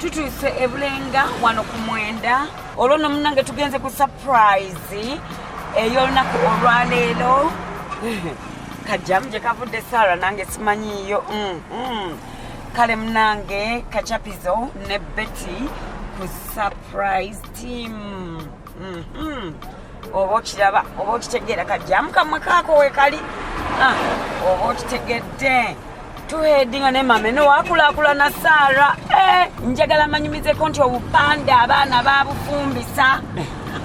tutuuse ebulenga wano ku mwenda olwo no munange tugenze ku surprise ey'olunaku olwaleero kajjamu gye kavudde sara nange simanyiiyo mm, mm. kale munange kacapizo ne betty ku surprise team mm-hmm. oba okiraba oba okitegeera kajjamu kamwe kaako wekali ah, oba okitegedde tuhedinga ne mame nowakulakulana sara eh, njagala manyumizeko nti obupande abaana babufumbisa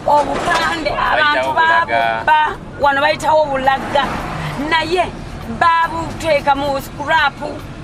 obupande abantu babubba wano bayitawo obulaga naye babuteeka mu scrapu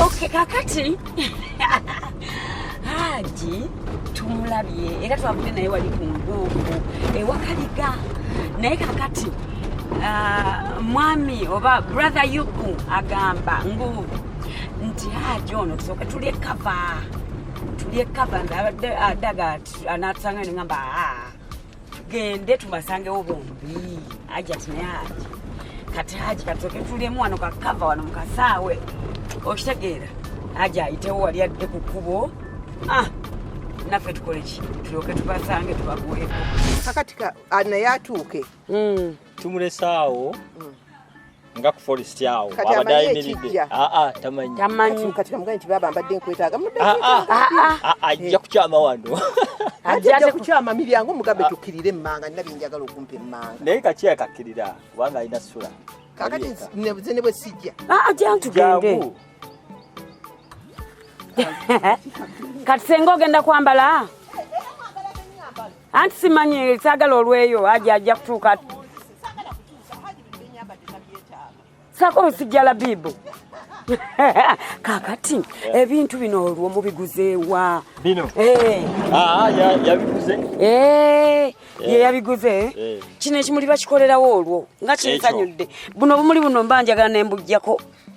Okay, kakati haji tumulabye era twavudde naye wali ku ngongo ewakaliga naye kakati uh, mwami oba brother yuku agamba ngu nti haji ono tusooke tulye kava tulye kava ndabadde adaga anatusanga nengamba aa ah. tugende tubasangewo bombi ajati naye aja kati aji katoke tulemu wano kakava wano mukasaawe okitegeera aji ayitewo wali adde ku kkubo ah, naffe tukoleki tulyoke tubasange tubaguweko kakati naye atuuke hmm. tumulesaawo hmm. nga ku forest awo abadde ayimiridde ah, ah, tamanyi ah, ajja kukyama wano ajja kukyama miryango mugambe tukkirire emmanga nina byenjagala okumpa emmanga naye kakiya kakkirira kubanga alina sula kakati nebuze ne bwe sijja ajantugende kati senga ogenda kwambala anti simanyi sagala olweyo aja ajja kutuuka sako omusijja labibu kakati ebintu bino olwo mubiguzeewa bino eh. ah, yabiguze eh, ye yabiguze eh. kino ekimuli bakikolerawo olwo nga kinsanyudde buno obumuli buno mba njagala nembujjako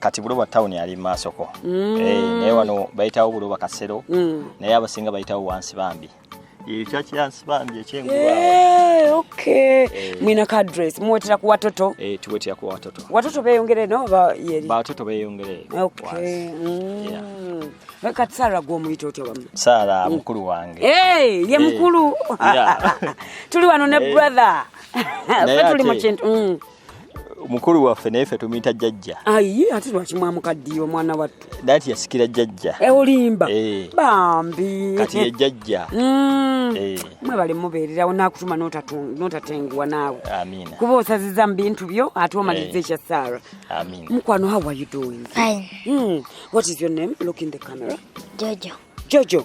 kati buloba town ali maasoko mm. hey, eh, naye wano bayitawo buloba kasero mm. naye abasinga bayitawo wansi bambi mwina ka dress muwetera ku watoto eh, tuwetera ku watoto watoto beyongere no ba yeri ba watoto beyongere okay mm. yeah. kati sara gwomuyita otya bamu sara mm. mukulu wange hey, ye eh. mukulu yeah. tuli wano ne hey. Eh. brother fe tuli mu kintu mm. mukulu waffe naye ffe tumuyita jajja ayi ate lwaki mwamukaddiye omwana wattu naye ti yasikira jajja eh, olimba eh. bambi kati ye jajja mm. eh. mwebale mubeererawo nakutuma notatenguwa naawe kuba osaziza mu bintu byo ate omaliriza ekya sara mukwano how are you doing mm. what is your name look in the camera jojo jojo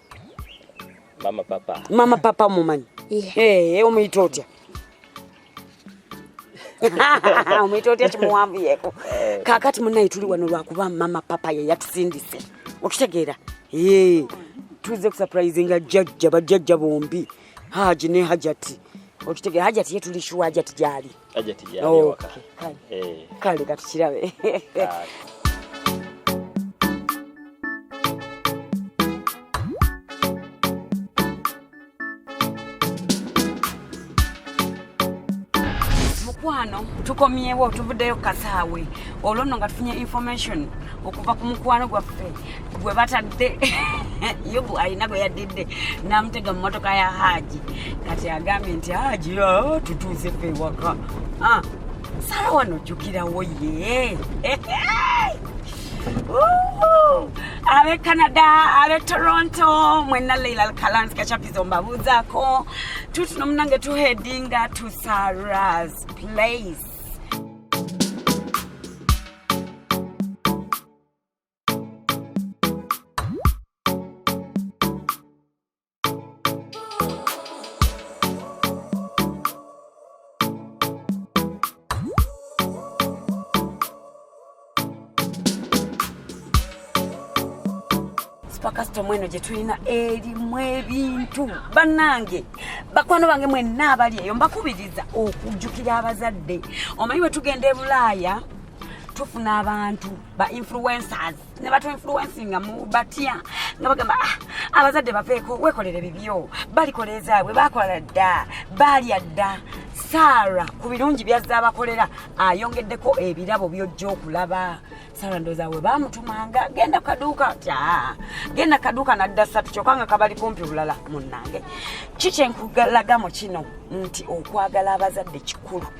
mama papa mama papa omumanyi eh, eh, omuyita otya omuyita otya kimuwanvuyeko eh. kakati munaye tuli wano lwakuba mama papa yeyatusindise okitegeera tuze kusupurizinga jajja bajajja bombi haji ne hajati okitegeera hajati ye tuli shuwa hajati gyali Aje tijja. Okay. Kale. Eh. Kale katukirabe. mukwano tukomyewo tuvuddeyo kasaawe olwo nno nga tufunye information okuva ku mukwano gwaffe gwe batadde yubu alina gwe yaddidde namutega mumotoka ya haji kati agambye nti haji ah, tutuuse fe ewaka ah, sala wano jukirawo ye abe canada abe toronto mwena leila lkalansi kachapizo mbabuuzako tutuno munange tuhedinga to saras place kasitoma eno gye tulina erimu ebintu bannange bakwano bange mwenna abali eyo mbakubiriza okujjukira abazadde omanyi bwe tugenda e bulaaya tufuna abantu ba influencers ne batu influencing mu batya nga bagamba ah, abazadde bapeeko wekolere bibyo balikola ezaabwe bakola dda baalya dda saara ku birungi byazze abakolera ayongeddeko ebirabo byojja okulaba saara ndooza we bamutumanga genda kaduuka tya ah, genda kaduuka nadda satu kyokka nga kabali kumpi bulala munnange kikyenkulaga mu kino nti okwagala abazadde kikulu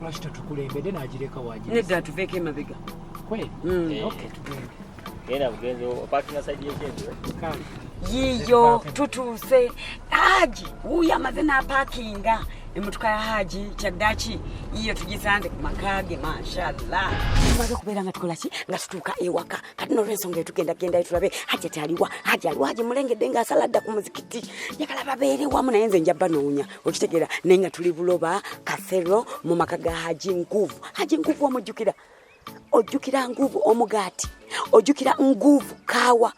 lwaki totukulembedde nagireka waginedda tuveeko emabega kweli mm. eh. okay tugende genda bugenzi opakinga saidi yekyenziro kale yiyo tutuuse haji wuyo amaze n'apakinga emotoka ya haji kyaddaki yiyo tugisanze ku maka ge mashallah tumaze okubeera nga tukola ki nga tutuuka ewaka kati nolwensonga etugenda gendayo tulabe haji ati aliwa haji aliwa haji mulengedde nga asala dda ku muzikiti njagala babeere wamu naye nze nja banoonya okitegera naye nga tuli buloba kathero mu maka ga haji nkuvu haji nkuvu omujjukira ojjukira nguvu omugaati ojjukira nguvu kaawa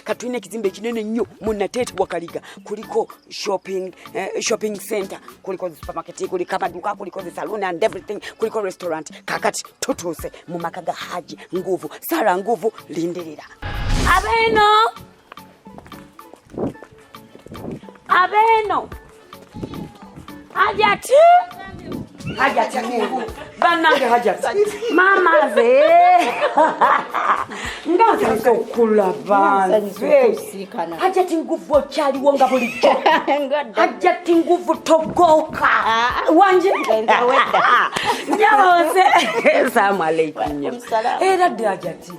katulina ekizimba ekinene nnyo munateeti wakaliga kuliko shopping, eh, shopping center kuliko supermarket kuliko amaduka kuliko the saloon and everything kuliko restaurant kakati tutuuse mu maka ga haji nguvu sara nguvu lindirira abeno abeeno hajati hajati mungu banange hajati mama ze ngansanise okulaba hajati nguvu okyaliwo nga bulijjo hajati nguvu togoka ah. wanje nyabaoze salamu aleikum era ddi hajati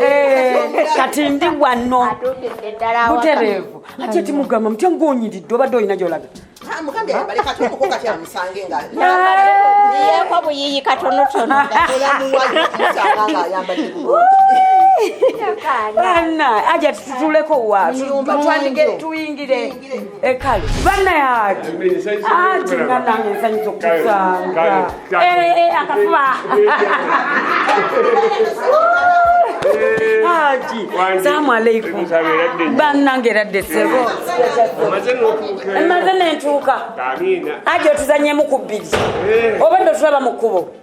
Eh, kati ndi wano butereevu ati eti mugamba mutya ngaonyiridde obadde olina gyolaga yeko buyiyi katonotono aja tutuleko wa tuyingire ekale bana yaki ati nga nange nsanyusa okusanga akafuba haji salamu aleikum banange eradde sebo emaze nentuuka haji otuzanyemu ku bbiri eh. obadde otulaba mu kkubo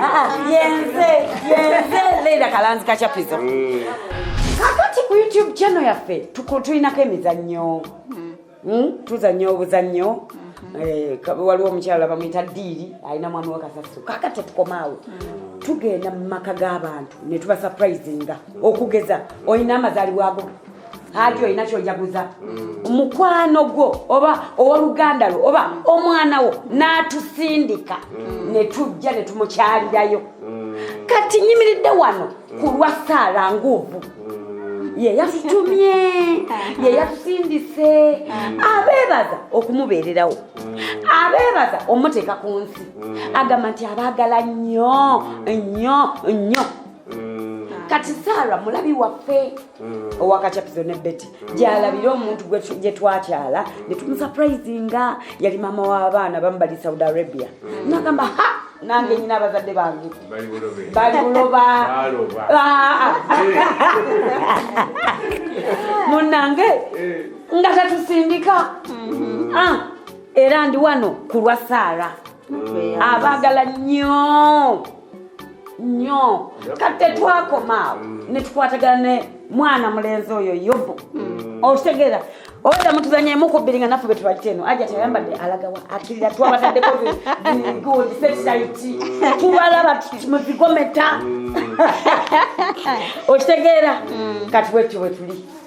Ah, ah, yenze yenze leila kalanzi kachapizo mm. kakati ku youtube channel yaffe tulinako emizannyo mm. hmm? tuzannya obuzannyo mm-hmm. eh, waliwo omukyala bamuyita diiri alina mwami wakasasu kaka tetukomaawo mm. tugenda mu maka g'abantu ne tubasaprayizinga okugeza olina amazaalibwago ati olina kyojaguza mm. mukwano gwo oba owoluganda lwo oba omwana wo n'atusindika mm. ne tujja ne tumukyalirayo mm. kati nyimiridde wano ku lwa saala nguuvu yeyatutumye yeyatusindise abeebaza okumubeererawo abeebaza omuteeka ku nsi agamba nti abaagala nnyo nnyo nnyo mm. kati saara mulabi waffe mm. owakacapizo ne beti mm. gyalabire omuntu gye twakyala ne tumusaprayizinga yali maama w'abaana bamu bali saudi arabia nagamba ha nange nyina abazadde bange bali buloba ah. munange eh. nga tatusindika mm-hmm. ah. era ndi wano kulwa saara abaagala nnyo nnyo kate twakomaawo mm. ne tukwatagana ne mwana mulenzi oyo yobu mm. okitegeera oda mutuzanya emukubbiri nga naffe betubakita eno aja tayambadde alagawa akirira twabataddeko tubalaba muzigometa mm. okitegeera kati bwetyo bwetuli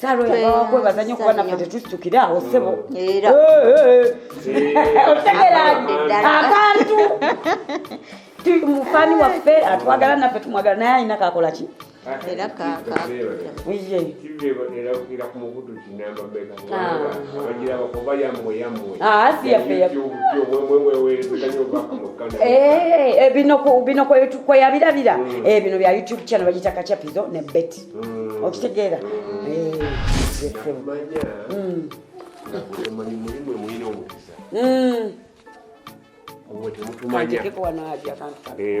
saalweyabawakwebaza nyo kuba naffe tetusukire awo sebo akantu mufani waffe atwagala naffe tumwagala naye alina kakola ki era kakabino kweyabirabira bino bya youtube channel bagita kachapizo ne beti mm. okitegeera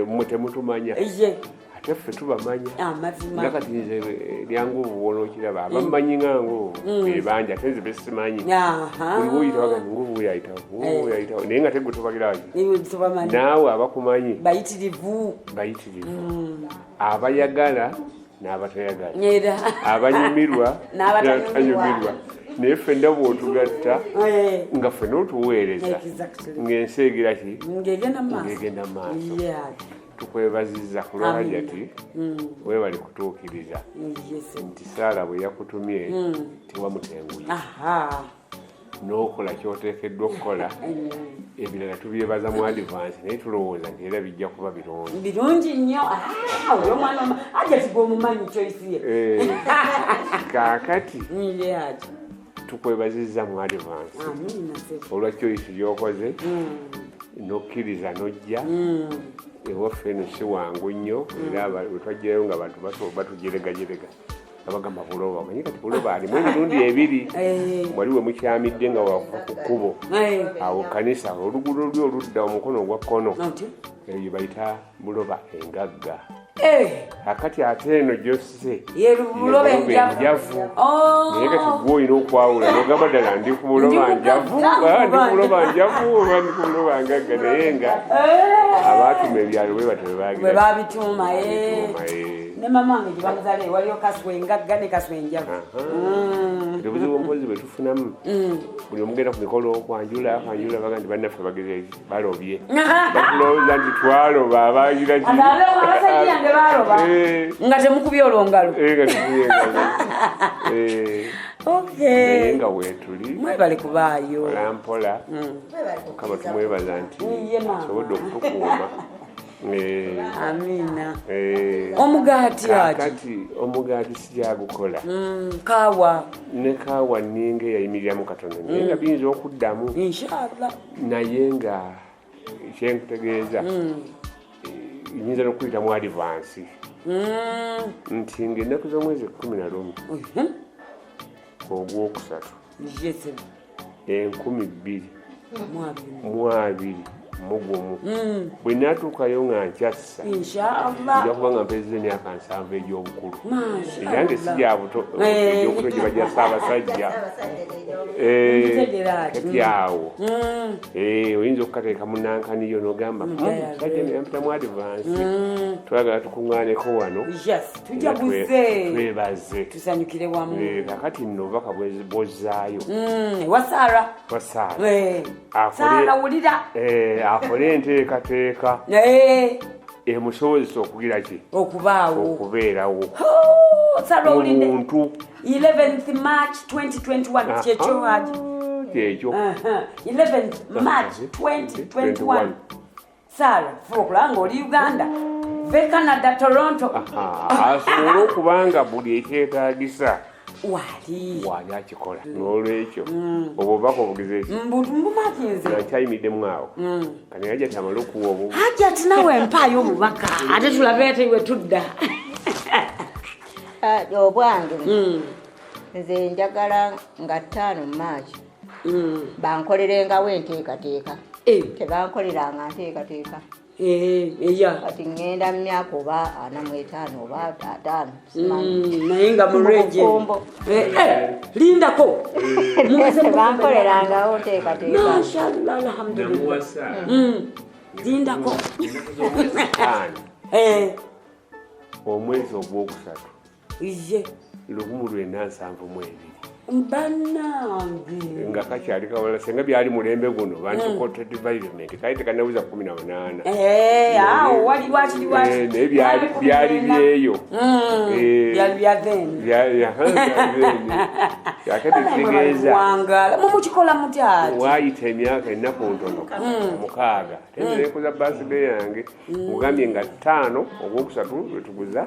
mwe temutumanya ate ffe tubamanya nga kati nze lyangu obuwola okiraba abamanyi nga ngo ebanja ate nze besimanyi oliwo oyitawo gani ngobu weyayitawo weyayitawo naye nga tegwe tobagiraki naawe abakumanyi bayitirivu bayitirivu abayagala n'abatayagala abanyumirwa n'abatanyumirwa naye fenna bwotugatta eh. nga fena otuweereza ng'ensi egira ki ngegenda maaso tukwebaziza ku lwajati mm. webali kutuukiriza nti saala bwe yakutumye mm. tewamutenguye n'okola kyoteekeddwa okukola ebirala tubyebaza mu advance naye tulowooza nti era bijja kuba birungi birungi nnyo ah, oyo omwana aja tigwomumanyi choice ye eh, kaakati tukwebaziza mu advance olwa choice gyokoze mm. nokkiriza nojja mm. ewaffe eno si wangu nnyo era mm. wetwajjayo nga bantu batujeregajerega abagamba buloba omanyi kati buloba alimu emirundi ebiri eh. wali we mukyamidde nga wakuva ku kkubo eh. awo kanisa oluguudo luli oludda omukono ogwa kkono eyo bayita buloba engagga eh. akati ate eno gyose enjavu oh. naye kati gwe olina okwawula nogamba ddala ndi ku buloba njavu ah, ndi ku buloba njavu oba ndi ku buloba ngagga naye nga abaatuma ebyalo bwe batyo bebagibabituuma ne mama wange gyebamuzale waliyo kaswa engagga ne kaswa enjavu mm. obuzibu mpozi bwetufunamu mm. buli omugenda ku mikolo kwanjula kwanjula baga nti bannaffe bagezeki balobye bakulowooza nti twaloba abagira eh. nga temukubye olwongalo eh, eh, nga wetuli mwebale kubaayo olampola mm. mukama tumwebaza nti asobodde okutukuuma amina eh. omugaati kakati omugaati sijagukola mm, kawa ne kawa ninga eyayimiriramu katono naye mm. nga biyinza okuddamu inshallah naye nga kyenkutegeeza mm. eh, nyinza nokuyita mu adivansi nti ngaenaku zomwezi ekumi na lumu mhm. ogwokusatu enkumi bbiri mu abiri mugumu hmm. bwe natuukayo nga nkyassa nja kuba nga mpezeza emyaka nsanvu egy'obukulu eyange si gya buto egyobuto gye bajja saabasajja kati awo hmm. eh, oyinza okukateeka mu nankaniyo nogamba hmm, musajja nayampita mu adivansi twagala tukuŋŋaaneko wano tujaguze twebaze tusanyukire wamu eh, kakati nno obubaka bwozaayo mm, ewa saara wa saara eh, saara wulira eh, akole enteekateeka emusobozesa okugira ki okubaawo okubeerawo saara owulidde omuntu 11th march 2021 kyekyo haji kyekyo 11th march 2021 saala fuba okulaba ng'oli uganda ve canada toronto asobole okuba nga buli ekyetagisa wali wali akikola mm. nolwekyo mm. obwo bako obugize eki mbumakinzeakyayimiddemu awo mm. kani hajati amale okuwa obu hajati nawe mpaayo obubaka ate tulabe ate we tudda ah, obwange nze njagala nga ttaano maaki mm. bankolerengawo enteekateeka eh. tebankoleranga nteekateeka Eh, kati ŋŋenda mu myaka oba ana mu etaano oba ataano mm, naye nga murejeombo eh, eh, lindako bankolerangawo nteekateekamashallah alhamdulillah mm, lindako omwezi ogwokusatu ye lugumu lwena nsanvu mu ebiri banange nga kakyali kawala senga byali mulembe guno bantukoted mm. vironment kali tekanabuza kumi na munaana eh, eh, naye byali byeyo mm. eh, ate tekitegeeza mumukikola mutyati wayita emyaka ennaku ntono mm. mukaaga tendeekuza basibe yange ogambye nga ttaano ogwokusatu lwetuguza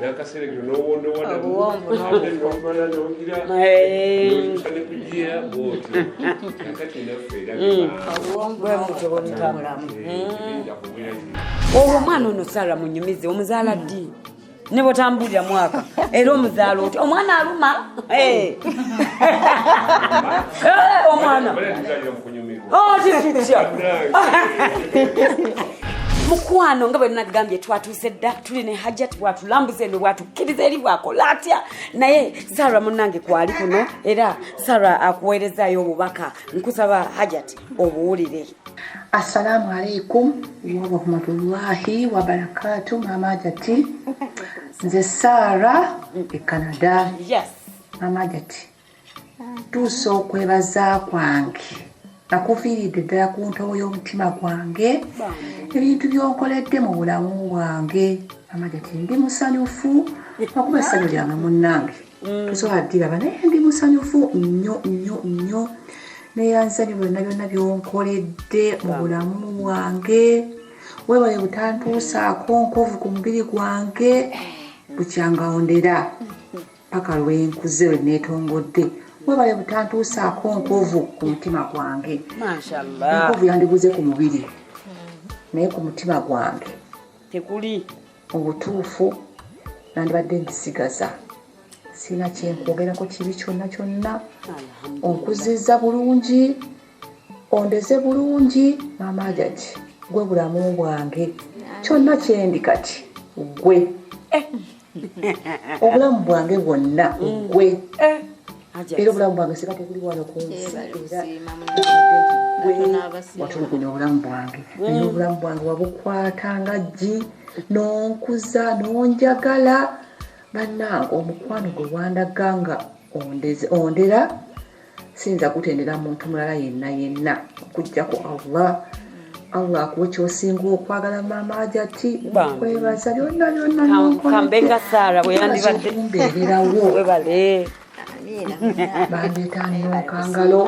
nakaseregiro nowondowadaomala nongira ne kujiya bwotyo nakati naffe olwo omwana ono sara munyumize omuzaala ddi ne bwotambulira mwaka era omuzaala otya omwana aluma omwana mukwano nga bwenagambye twatu sedda tuli ne hajat bwatulambuza eno bwatukkiriza eri bwakola atya naye sara munange kwali kuno era sara akuweerezayo obubaka nkusaba hajat obuwulire assalamu alaikum warahmatullahi wabarakatu mama hajati nze sara e canada yes. mama hajati ntuusa okwebaza kwange akuviiridde ddala ku ntobo y'omutima gwange ebintu by'onkoledde mu bulamu bwange amanya ti ndi musanyufu okuba essanyu lyange munnange mm. tosobola ddiraba naye ndi musanyufu nnyo nnyo nnyo neyanzanyo byonna byonna byonkoledde mu bulamu bwange webaye butantuusaako nkovu ku mubiri gwange bukyangawondera paka lwenkuze lwe netongodde webale butantuusaako nkovu ku mutima gwange enkovu yandibuze ku mubiri naye ku mutima gwange tekuli obutuufu nandibadde ndisigaza sirina kyenkwogerako kibi kyonna kyonna onkuziza bulungi ondeze bulungi maama ajaki gwe bulamu bwange kyonna kyendi kati gwe eh. obulamu bwange bwonna gwe eh, era obulamu bwange singa tekuli wano ku nsi watulugunya obulamu bwange naye mm. obulamu bwange wabukwata nga ggi n'onkuza n'onjagala bannange omukwano gwe wandaga nga ondera siyinza kutendera muntu mulala yenna yenna okujjako allah allah akuwe kyosinga okwagala maama ajati kwebaza byonna byonnakambenga saara bweyandibaddeumbeererawo webale bandetanira okangalo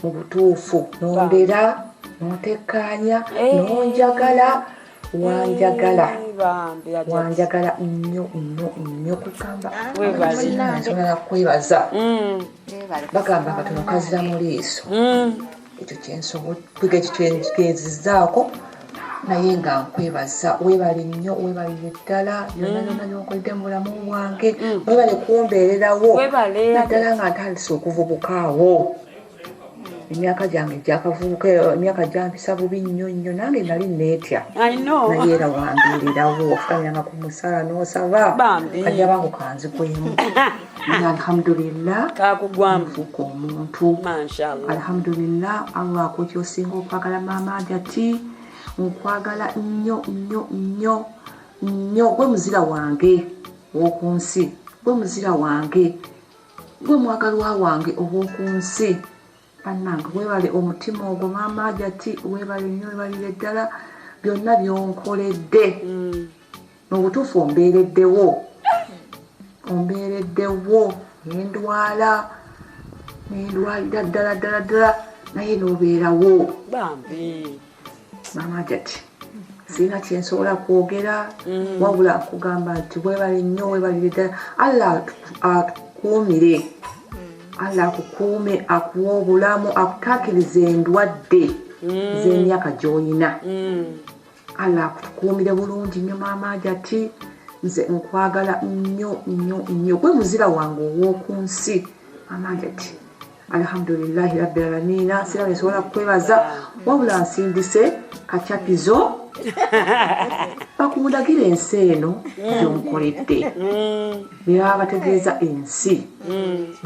mu butuufu nondera nontekkaanya eh. nonjagala wanjagala eh, wanjagala nnyo nnyo nnyo kugamba ensonga yakwebaza mm. bagamba nga tunokazira mu liiso mm. ekyo kyensobodde ekyo kyenzizaako naye nga nkwebaza webale nnyo webalire ddala byonna mm. byonna byokoledde mu bulamu bwange mm. webale kumbeererawo naddala nga ntandise okuvubukaawo emyaka gyange gyakavubuka emyaka gyampisa bubi nnyo nnyo nange nali neetya naye era wambeererawo ofukamyanga ku musaala n'osaba kajja bangu kanzikwemu alhamdulillah kakugwambuka omuntu alhamdulillah allah akuti osinga okwagala maama ajati nkwagala nnyo nnyo nnyo nnyo gwe muzira wange ow'oku nsi gwe muzira wange gwe mwagalwa wange ow'oku nsi bannange weebale omutima ogwo maama ajati weebale nnyo weebalire ddala byonna byonkoledde mm. mubutuufu ombeereddewo ombeereddewo nendwala nendwalira ddala ddala ddala naye nobeerawo bambi mama jati sirina kyensobola kwogera mm. wabula kugamba nti webale nnyo webalire ddala allah akukuumire mm. allah akukuume akuwa obulamu akutakiriza endwadde mm. z'emyaka gy'olina allah akutukuumire bulungi nnyo maama ajati nze nkwagala nnyo nnyo nnyo gwe muzira wange ow'oku nsi maama ajati alhamdulilahi rabbi alamiina sira nesobola kukwebaza wabula nsindise kacapizo bakundagire ensi eno byonkoledde nebaba bategeeza ensi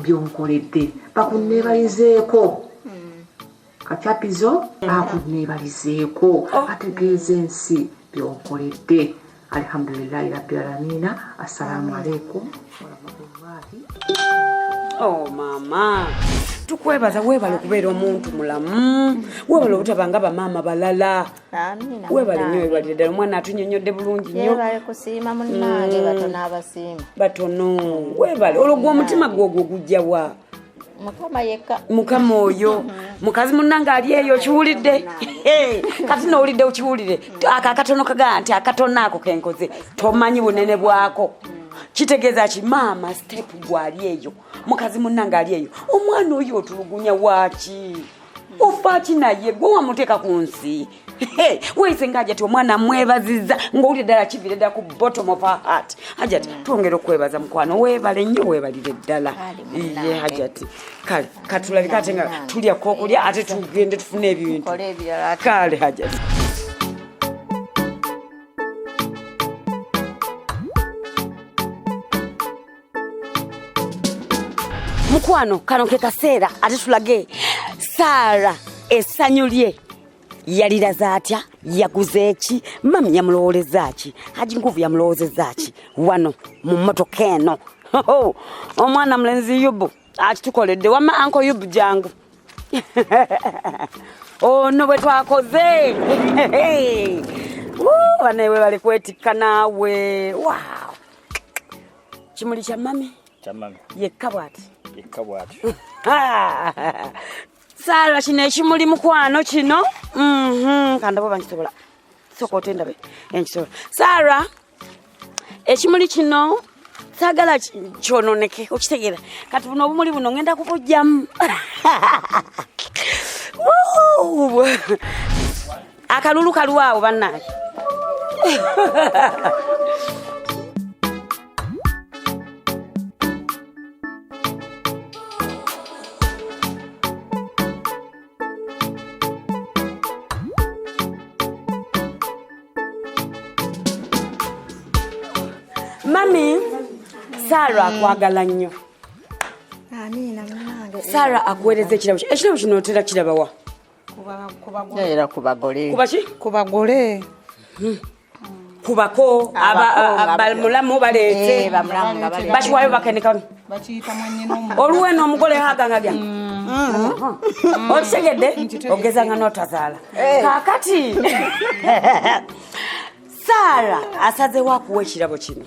byonkoledde bakunneebayizeeko kacapizo akuneebalizeeko oh. ategeeza ensi byonkoledde alhamdulilahi rabbi alamina assalamu aleikum warahmatullahi oh, mama tukwebaza webale okubeera omuntu mulamu webale obutaba nga bamaama balala webale nyo webalire ddala omwana atunyonyodde bulungi nyo mm. batono webale olwo gwe omutima gwe ogwo gujjawa mukama yekka mukama oyo mukazi munange ali eyo okiwulidde kati nowulidde okiwulire ako akatono kagaa nti akatono ako kenkoze tomanyi bunene bwako kitegeeza ki maama step gwali eyo mukazi munange ali eyo omwana oyo otulugunya waaki ufa ki naye gwe wamuteeka ku nsi weyise nga ajati omwana mwebaziza ngaowulire ddala kivire ddala ku bottom of her heart hajati mm. twongera okwebaza mukwano webale nnyo webalire ddala ye hajati kale katulabika ate nga tulya kokulya ate tugende tufune ebintu kale hajati mukwano kano ke kaseera ate tulage saara essanyu lye yaliraze atya yaguze eki mami yamulowoleza ki haji nkuvu yamulowozeza ki wano mu mmotoka eno omwana mulenzi yubu akitukoledde wama anko yubu jangu ono oh, bwe twakoze banaewe bali kwetikka naawe wow kimuli kya mami yekka bwati yekka bwati saala kino ekimuli mukwano kino mhm, kandabo bankisobola soka otendabe enkisobola saala ekimuli kino sagala kyononeke okitegeera kati buno obumuli buno ngenda kubujjamu akalulu kalwawo bannange mami saara akwagala nnyo saara akuweereza ekirabo ekirabo kino otera kirabawa era ku bagole ku bagole kubako bamulamu baleete bakiwayo bakenekamu oluwe n'omugole hagangagya okitegedde ogeza nga notazaala kakati saara asazewo akuwa ekirabo kino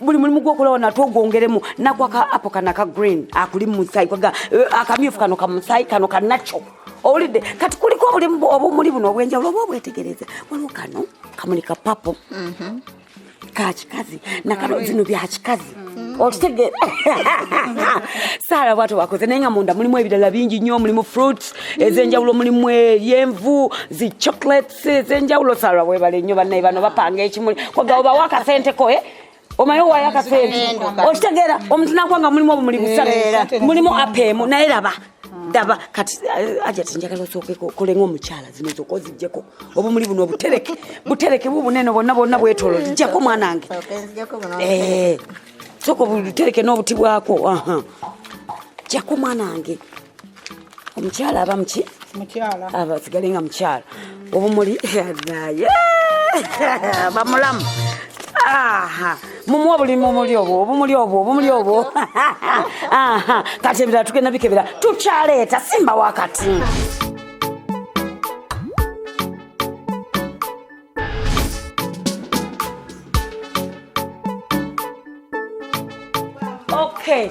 buli mulimu gwokolawo nate ogwongeremu nagwaka apo kana ka green akuli mumusaayi kwaga eh, akamyufu kano kamusaayi kano kanakyo owulidde kati kuliko obulimu obumuli buno obwenjawulo oba obwetegereze waliwo kano kamuli ka papo mhm. kakikazi nakano zino byakikazi mhm. okitegeera saala bwato wakoze naye nga munda mulimu ebirala bingi nnyo mulimu fruits ezenjawulo mulimu eryenvu zi chocolate senjawulo salwa webale nnyo bannaye bano bapanga ekimuli koga obawo akasente koe eh? omaye owayo akasente okitegeera omuntu nakuba nga mulimu obumuli busatu mulimu apeemu naye laba daba kati eh, aja tinjagala osookeko kolenga omukyala zino zoka ozijjeko obumuli buno obutereke butereke bubunene bonna bonna bwetolo zijjako mwana wange eh, soka obutereke n'obuti bwako jako mwana wange omukyala aba muki mukyala aba sigale nga mukyala obumuli naye bamulamu mumuwa buli mumuli obwo obumuli obwo obumuli obwo kati ebirala tugenda bikebera tukyaleeta simba wakati okay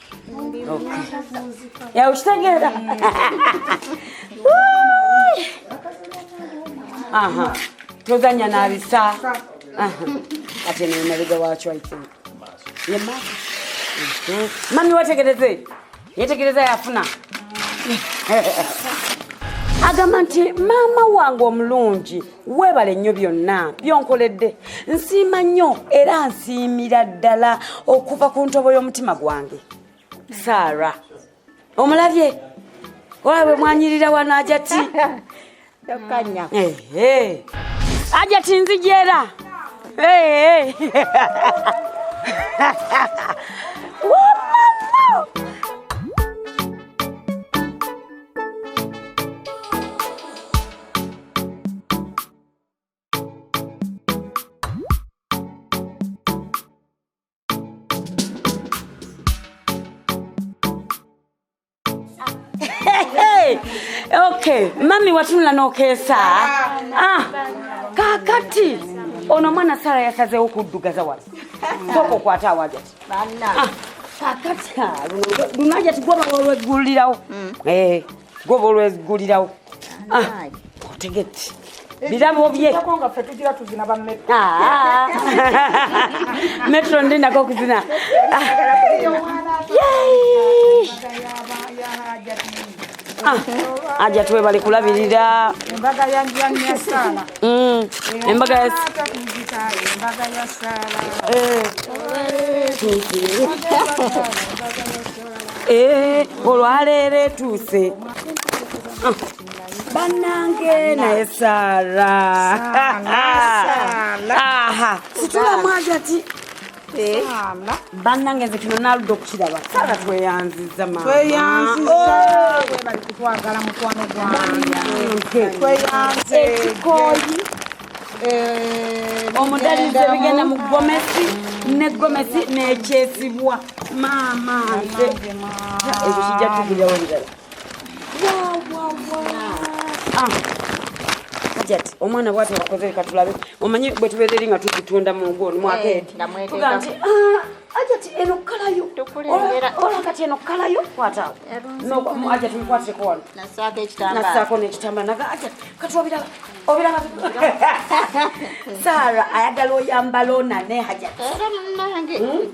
Ya ushitagera. Aha. Tozanya na bisa. Aha. Ate ni maliga wacho I think. Ye mama. Mhm. Mami wategereze. Yetegereza yafuna. Agamba nti maama wange omulungi weebale nnyo byonna byonkoledde nsiima nnyo era nsiimira ddala okuva ku ntobo y'omutima gwange saara omulabye ola bwe mwanyirira wano ajati tokanya eh, eh. ajati nzigyera eh, okay mami watunula nokeesa ah, kakati ono mwana sara yasazewo kuddugaza wano soka okwata awajati kakati luno ajati gwoba olweggulirawo goba olwegulirawo ah, otegeti birabo bye ah. metro ndi nako okuzina aja tuwe bali kulabirira embaga ya njanya sana mm embaga ya embaga ya sana eh Eh, olwaleero etuuse ah, banange naye sara situlamu ajati eh. banange nze kino naludde okukiraba sara tweyanziza maekikoyi eh, omudalizo ebigenda mu gomesi ne gomesi nekyesibwa maama nze ekyo kijja tugulirawo birala hajati ah. omwana bwati wakoze leka tulabe omanyi bwe tubeereri nga tukitunda mu ngo mwaka eh, edi tugaa nti ah, hajati eno kalayo ola kati eno kalayo kwatawo hajati mukwatireko wano nasaako n'ekitambala naga hajati kati wabiraba obiraba sara ayagala oyambala onane hajati era munange hmm?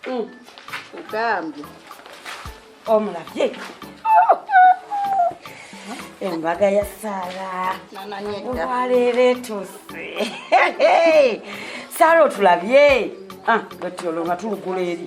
hmm. ogambye omulabye embaga ya sara olwaleero etuuse sara otulabye ah, gati olwo nga tulugula eri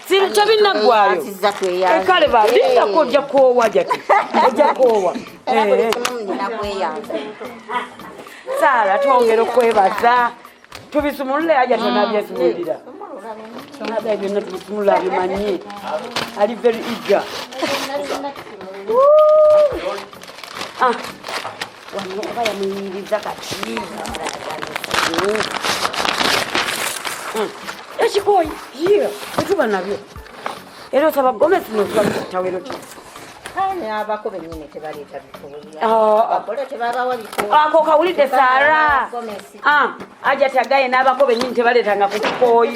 tebinaggwayo kale balindako ojja koowa jati ojja koowa saala twongera okwebaza tubisumulule aja tonabyesumulira ada byonna tubisumulula abimanyi ali very eager ah. wano oba yamuyimiriza kati ekikooyi ye etuba nabyo era osaba gomesi nozibakitawero kyo abako benyini tebaleeta bikoakola tebabawa bikoako kawulidde sara aja tagaye n'abako benyini tebaleetanga ku kikooyi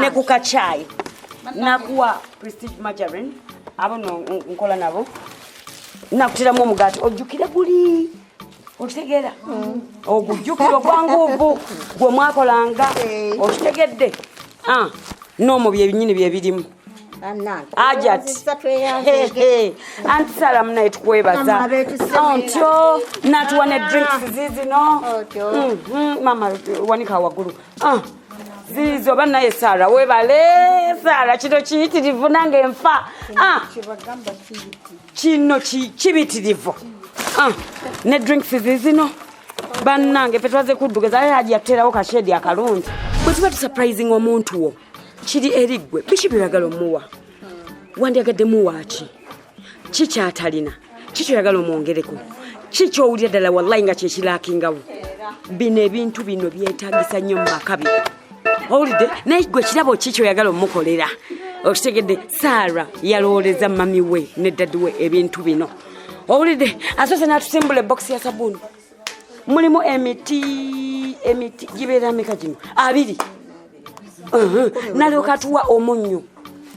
ne ku kacaayi nakuwa prestige margarine abo no nkola nabo nakutiramu omugaati ojjukire guli okitegeera ogujjukira ogwanguuvu gwe mwakolanga eh. okitegedde ah, noomu byebinyini byebirimu ajati anti sala munaye tukwebaza ontyo natuwa ne drinks zizino mama wanika wagulu Ah, ziizo banaye sara webale sara kino kiyitirivu nange nfa ah. kino kibitirivu ah, ne drinks zizino bannange fe twaze kuddugaza aye hajja tuteerawo kashedi akalungi bwe tuba tusurprising omuntu wo kiri eri ggwe biki byeyagala omuwa wandyagadde muwaaki ki kyatalina ki kyoyagala omwongereko ki kyowulira ddala wallayi nga kyekilakingawo bino ebintu bino byetagisa nnyo mu maka bino owulidde naye gwe kirabo ki kyoyagala omukolera okitegedde saara yalowooleza mami we ne dadi we ebintu bino owulidde asoose n'atusimbula ebokisi ya sabuuni mulimu emiti emiti gibeera meka gino abiri nalyoka tuwa omunnyo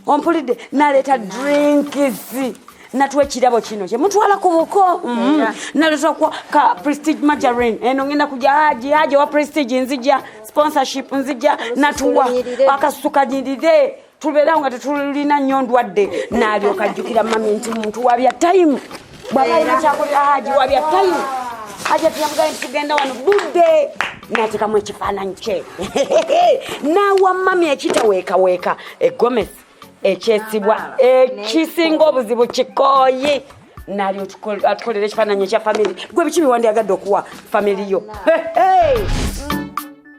ompulidde naleeta drinkisi natuwa ekirabo kino kyemutwala ku buko mm-hmm. naletakwa ka prestige majarin eno eh, ngenda kuja haji haji wa prestige nzija sponsorship nzija natuwa akasuka nyirire tubeerawo nga tetulina nnyo ndwadde naalyoka ajjukira mami nti muntu wabya tayimu bwabainakyakolera haji wabya tayimu haji atuyamugale nti tugenda wano budde natekamu ekifaananyi kye naawa mami ekitaweekaweeka egomesi ekyesibwa ekisinga obuzibu kikooyi nali atukolera ekifaananyi ekya famiry gwe biki biwandiyagadde okuwa famiry yo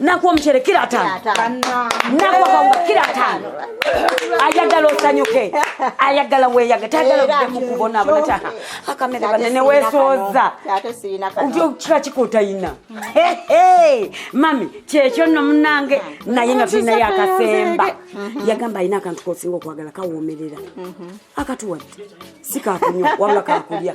nakuwa omucere kira atano nakuwa kawunga kira atano ayagala osanyuke ayagala weyaga tayagala odde mukubonabona akamere bane newesooza kika kikotayina mami kyekyo no munange naye nga tulinayo akasemba mhm. yagamba alina akantu kosinga okwagala kawomerera mhm. akatuwadde sikakunywa wabula kakulya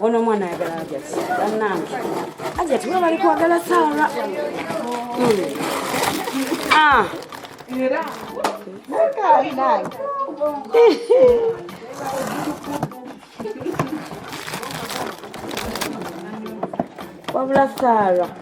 Ono omwana ayagala ajati banange ajati we bali kwagala saara hmm. ah. wabula saara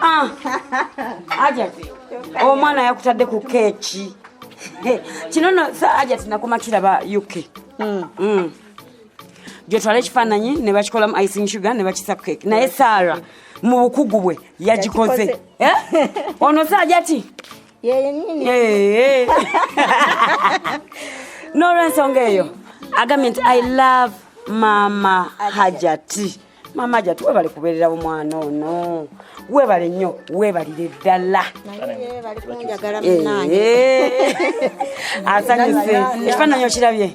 Ah, aja omwana oh, yakutadde ku keeki kino no aja tinakoma kiraba uk hmm. hmm. gyotwala ekifaananyi ne bakikolamu icing sugar ne bakisa keeki naye saara mu bukugu bwe yagikoze eh? ono saaja ti n'olwensonga eyo agambye nti i love mama hajati Ajati. maama jatu webale kubeerera omwana ono webale nnyo webalire ddala asanyuse ekifaananyi okirabye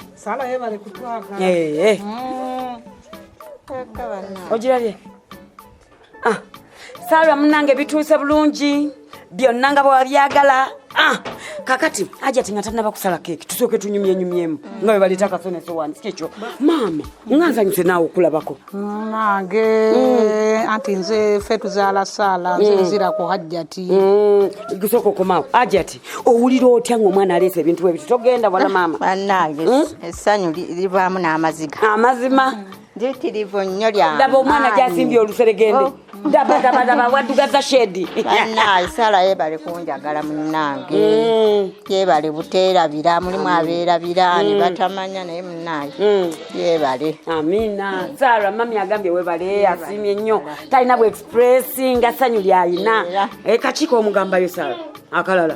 ogirabye ah. salwa munange bituuse bulungi byonna nga bwewabyagala ah, kakati ajati nga tanaba kusala keeki tusooke tunyumyenyumyemu nga webaleeta akasonesowani kyekyo maama nga nsanyuse naawe okulabako nange mm. anti nze fe tuzaala saala nze mm. nzira ku hajjati mm. kusooka okomaawo ajati owulira otya ngaomwana aleesa ebintu bwebiti togenda bona maama banange essanyu livaamu n'amaziga amazima mpitirivu nnyo lyange ndaba omwana gyasimbye oluseregende oh. ndabadabadaba wadugaza shedi banaye sala yebale kunjagala munange mm. yebale buterabira mulimu aberabira mm. nebatamanya naye munaye mm. yebale amina sara mami agambye webale asimye nnyo talina bwexpressi nga sanyu lyayina eh, kakiiko omugambayo sara akalala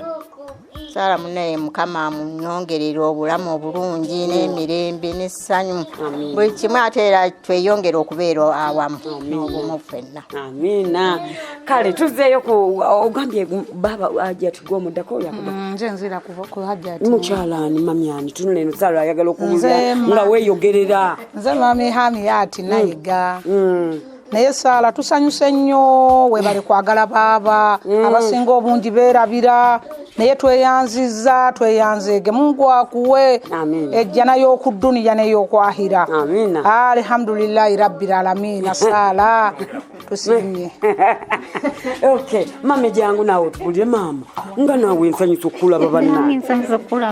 saala munaye mukama amunyongerera obulamu obulungi n'emirembe n'essanyu buli kimu ate era tweyongere okubeera awamu n'obumu ffenna amiina kale tuzzeeyo ku ogambye baaba ajati gwomuddako yakuba mm, nze nzira ku hajati mukyalaani mamyani tunula eno saala ayagala okuwulira nga weeyogerera nze mami hamiyati nayiga mm. naye saala tusanyuse nnyo webale kwagala baaba mm. abasinga obungi beerabira naye tweyanziza tweyanzeege mungu akuwe ejjana y'okudduniya neyokwahira alihamdulilahi rabbi lalamina saala tusimye ok mama ejangu naawe tubulire maama nga naawe nsanyusa okukulaba banna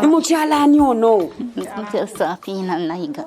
mukyala ani ono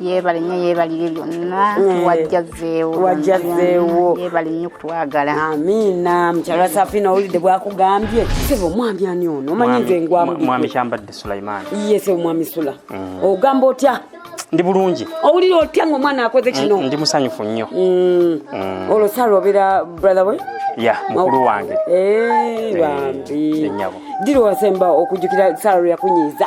yebale nyo yebalire byonna eh, wajjazeewo wajjazeewo yebale nyo kutwagala amiina mukyala safina owulidde bwakugambye sebo omwami ani ono omanyi nze ngwamwami kyambadde sulaiman ye sebo omwami sula mm. ogamba otya ndi bulungi owulira otya nga omwana akoze mm, kino ndi musanyufu nnyo mm. mm. olwo sala obeera brother we ya mukulu oh. wange eh, eh, bambi dira wasemba okujukira sala lweyakunyiiza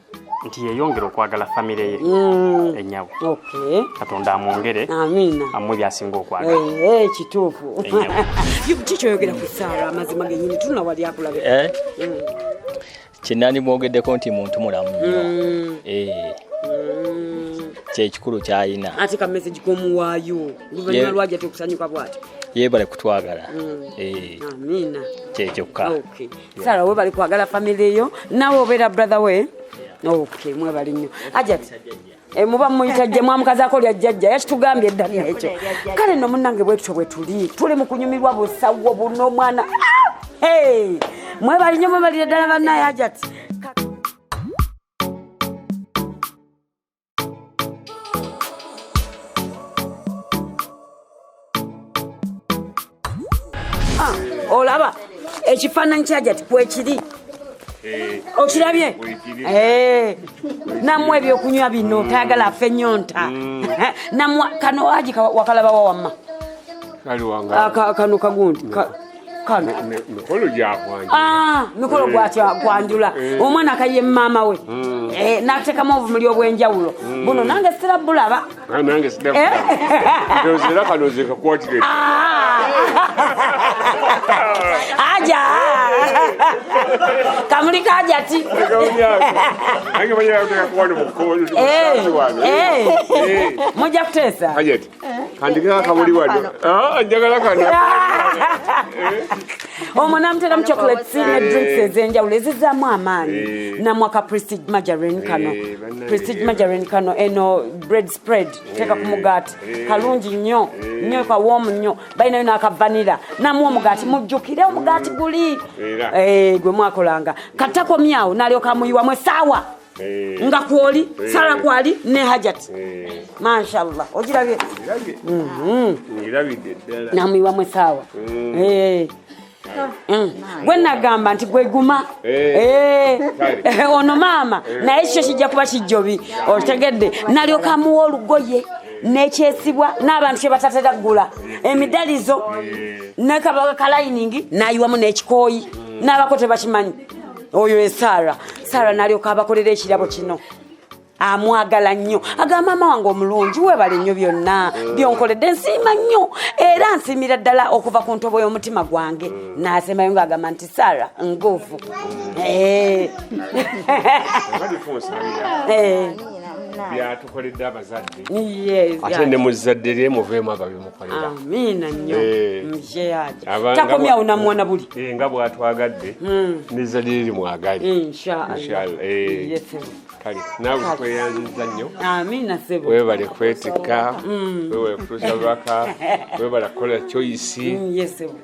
nti yeyongera okwagala famire ye mm. enyawo katonda amwongere amuwe byasinga okwagala eh, eh, kituufu kikyoyogera ku saala amazima genyini tulina wali akulabe eh? mm. kyenani mwogeddeko nti muntu mulamu nyo mm. kyekikulu kyayina ate ka message komuwaayo luvannyuma lwaja tekusanyuka bwati yebale kutwagala mm. eh. amina kyekyoka sara we bali kwagala family yo nawe obeera brother we okay mwe bali nnyo ajat e, muba muyita jje mwamukazako lya jjajja yakitugambye edda nekyo kale no munange bwekityo bwe tuli tuli mu kunyumirwa busawo buno mwana ah! mwe bali nnyo mwe balire ddala bannaye ajati Ah, olaba ekifaananyi kyajati kwekiri eh, okirabye eh, namwe ebyokunywa bino mm. tayagala afe nyonta mm. namwe kano aji wakalabawa wamma ah, kano kagundi kano mikolo gyakwanjula ah, mikolo gwakwanjula eh, eh. omwana akaye maama we hmm. eh, natekamu obumuli obwenjawulo hmm. buno nange sira bulaba ah, nange sira kano zekakwatire ah. aja kamuli kajati mujja kuteesa kandikira akabuli wano ah, njagala kano omwo namuteramu chocolate ne drinks ezenjawulo ezizaamu amaanyi eh. namwaka prestige majarin kano eh, prestige eh. majarin kano eno bread spread teeka ku mugaati kalungi nnyo nnyo kawoomu nnyo balinayo nakavanira namu omugaati mujjukire omugaati guli gwe mwakolanga katakomyawo nalyokamuyiwamu esaawa eh. nga kwoli eh. sala kwali ne hajat eh. mashallah ogirabye mhm. namuyiwamu esaawa mm. Mm. gwe nagamba nti gweguma eh. eh, ono maama eh. naye kikyo kijja kuba kijjobi otegedde nalyoka amuwa olugoye nekyesibwa n'abantu kyebatatera kugula emidalizo nekabaga kalayiningi nayiwamu n'ekikooyi n'abako tebakimanyi oyo ye saara saara nalyoka abakolera ekirabo kino amwagala nnyo aga maama wange omulungi webale nnyo byonna byonkoledde nsiima nnyo era nsiimira ddala okuva ku ntobo y'omutima gwange nasembayo nga agamba nti sara nguvu eh. eh. byatukoledde abazadde ate ne muzzadde lye muveemu ababimu amiina nnyo eh. mjeyaji takomyawo namwana buli eh, nga bwatwagadde hmm. nezalire limwagale eh, kale nawe tweyanziza nnyo amiina sebo webale kwetikka hmm. webale kutuusa lubaka webale kukola choisi hmm,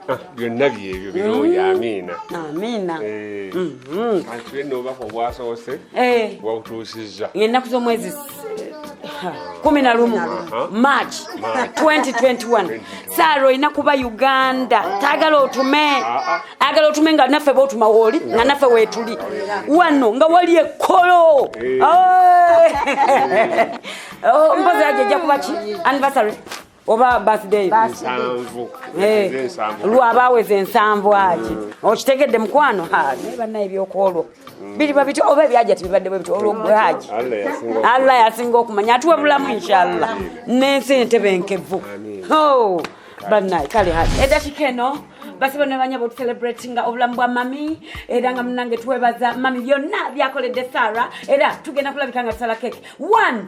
ah, byonna byebyo birungi amiina amiina atulenoobaka obwasoose wabutuusizza ennaku z'omwezi kumi na lumu march 2021 saara olina kuba uganda taagala otume agala otume nga naffe botuma wooli nga naffe weetuli wano nga wali ekkolo eh. oh, mpozi ajo ejja kuba ki anniversary oba birthday nsanvu Eh, Nze nsanvu. lwa baaweza ensanvu aki okitegedde mukwano haji naye banna ebyokwolwo biriba bityo oba ebyaja tibibadde bwe bityo olwo gwe haji Allah yasinga oku- allah yasinga okumanya atuwe bulamu inshallah n'ensi entebe enkevu Ho, bannaye kale haji edakika eno basibe nebanya botucelebrate nga obulamu bwa mami era nga munange twebaza mami byonna byakoledde sara era tugenda kulabika nga tusala keke one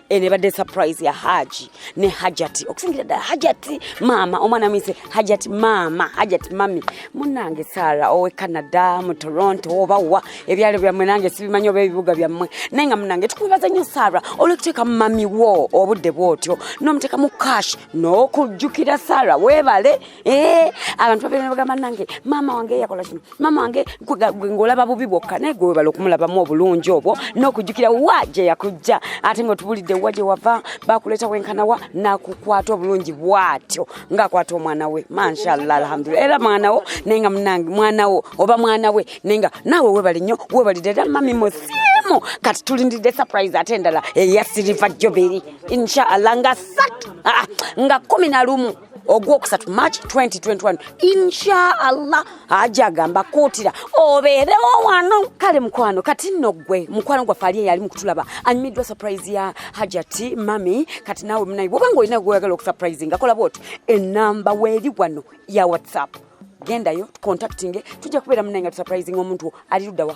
eno ebadde surprise ya haji ne hajati okusingira ddala hajati maama omwana muyise hajati maama hajati mami munange sara owe canada mu toronto oba wa ebyalo byammwe nange sibimanyi oba ebibuga byammwe naye nga munange tukubibaza nnyo sara olwekuteeka mu mami wo obudde bwotyo n'omuteeka mu cash n'okujjukira sara weebale Eh, abantu babeera ne bagamba nange maama wange yakola kino maama wange ng'olaba bubi bwokka naye gwe webala okumulabamu obulungi obwo n'okujjukira wa gye yakujja ate ng'otubulidde wa gye wava bakuleeta wenkanawa nakukwata obulungi bwatyo ng'akwata omwana we manshallah alhamdulila era mwana wo naye nga munange mwana wo oba mwana we naye nga naawe webali nnyo webalidde era mami musi emu kati tulindidde surprise ate endala eya siriva joberi inshallah nga satu ah, nga kumi na lumu ogwokusatu march 2021 inshaallah aja agamba kuutira obeerewo wano kale mukwano kati nno gwe mukwano gwaffe ali eyali mukutulaba anyumiddwa surprise ya hajati mami kati naawe munayi bwoba nga olina gweyagala okusurprise nga kola bwoti enamba weeri wano ya whatsapp gendayo tucontactinge tujja kubeera munayi nga tusurprising omuntu ali luddawa